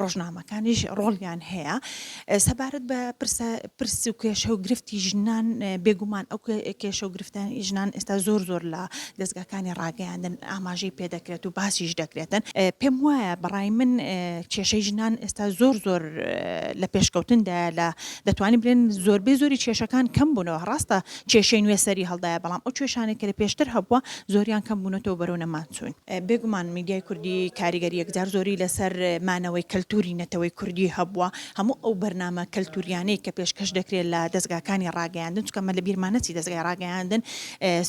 ڕۆژنامەکانیش ڕۆڵیان هەیە سەبارەت بە پرسە پرس و کێشە و گرفتی ژنان بێگومان ئەو کێشە و گرفتانی ژنان ئێستا زۆر زۆر لە دەستگاکانی ڕاگەیاندن ئاماژەی پێدەکرێت و باسیش دەکرێتن پێم وایە بەڕای من کێشەی ژنان ئێستا زۆر زۆر لە پێشکەوتندا لە دەتوانین بلێن زۆربەی زۆری کێشەکان کەم بوونەوە ڕاستە کێشەی نوێ سەری هەڵدایە، بەڵام ئەو کێشانەی کە لە پێشتر هەبووە زۆریان کەم بوونەتەوە و بەرەو نەمان چوون. بێگومان میدیای کوردی کاریگەری یەکجار زۆری لەسەر مانەوەی کەلتووری نەتەوەی کوردی هەبووە، هەموو ئەو بەرنامە کەلتووریانەی کە پێشکەش دەکرێت لە دەزگاکانی ڕاگەیاندن، چونکە ئەمە لە بیرمان نەچی دەزگای ڕاگەیاندن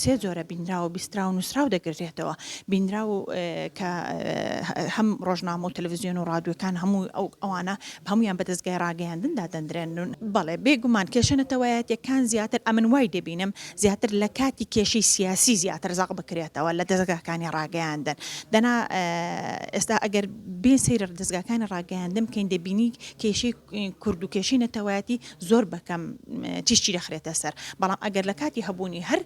سێ جۆرە، بینراو و بیستراو و نووسراو دەگرێتەوە، بینراو کە هەم ڕۆژنامە و تەلەڤزیۆن و ڕادیۆکان هەموو ئەوانە هەموویان بە دەزگای ڕاگەیاندن دادەندرێن. بەڵێ، بێ گومان کێشە نەتەوایەتییەکان زیاتر، ئەمن وای دەبینم، زیاتر لە کاتی کێشەی سیاسی زیاتر زەق بکرێتەوە لە دەزگاکانی ڕاگەیاندن. دەنا ئێستا ئەگەر بێ سەیرڕ دەزگاکانی ڕاگەیاندن بکەین دەبینی کێشەی کورد و کێشەی نەتەوایەتی زۆر بە کەم تیشکی دەخرێتە سەر، بەڵام ئەگەر لە کاتی هەبوونی هەر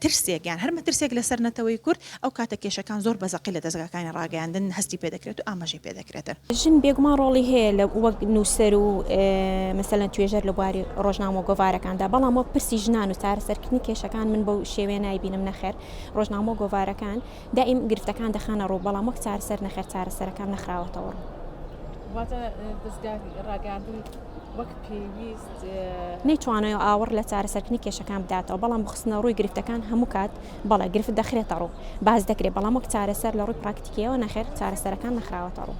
ترسێک یان هەر مەترسێک لەسەر نەتەوەی کورد، ئەو کاتە کێشەکان زۆر بە زەقی لە دەزگاکانی ڕاگەیاندن هەستی پێ دەکرێت و ئاماژەی پێ دەکرێتن. ژن بێگومان ڕۆڵی هەیە لە وەک نووسەر و مەسەلەن توێژەر لە بواری ڕۆژنامە و گۆڤارەکاندا، بەڵام وەک پرسی ژنان و چارەسەرکردنی کێشەکان من بەو شێوەیە نایبینم، نەخێر ڕۆژنامە و گۆڤارەکان، دایم گرفتەکان دەخەنە ڕوو بەڵام وەک چارەسەر نەخێر چارەسەرەکان نەخراوەتەوە ڕوو. واتە دەزگا ڕاگەیاندن وەک پێویست. نەیتوانیوە ئاوڕ لە چارەسەرکردنی کێشەکان بداتەوە بەڵام بخستنە ڕووی گرفتەکان هەموو کات بەڵێ گرفت دەخرێتە ڕوو باس دەکرێت بەڵام وەک چارەسەر لە ڕووی پراکتیکیەوە نەخێر چارەسەرەکان نەخراوەتە ڕوو.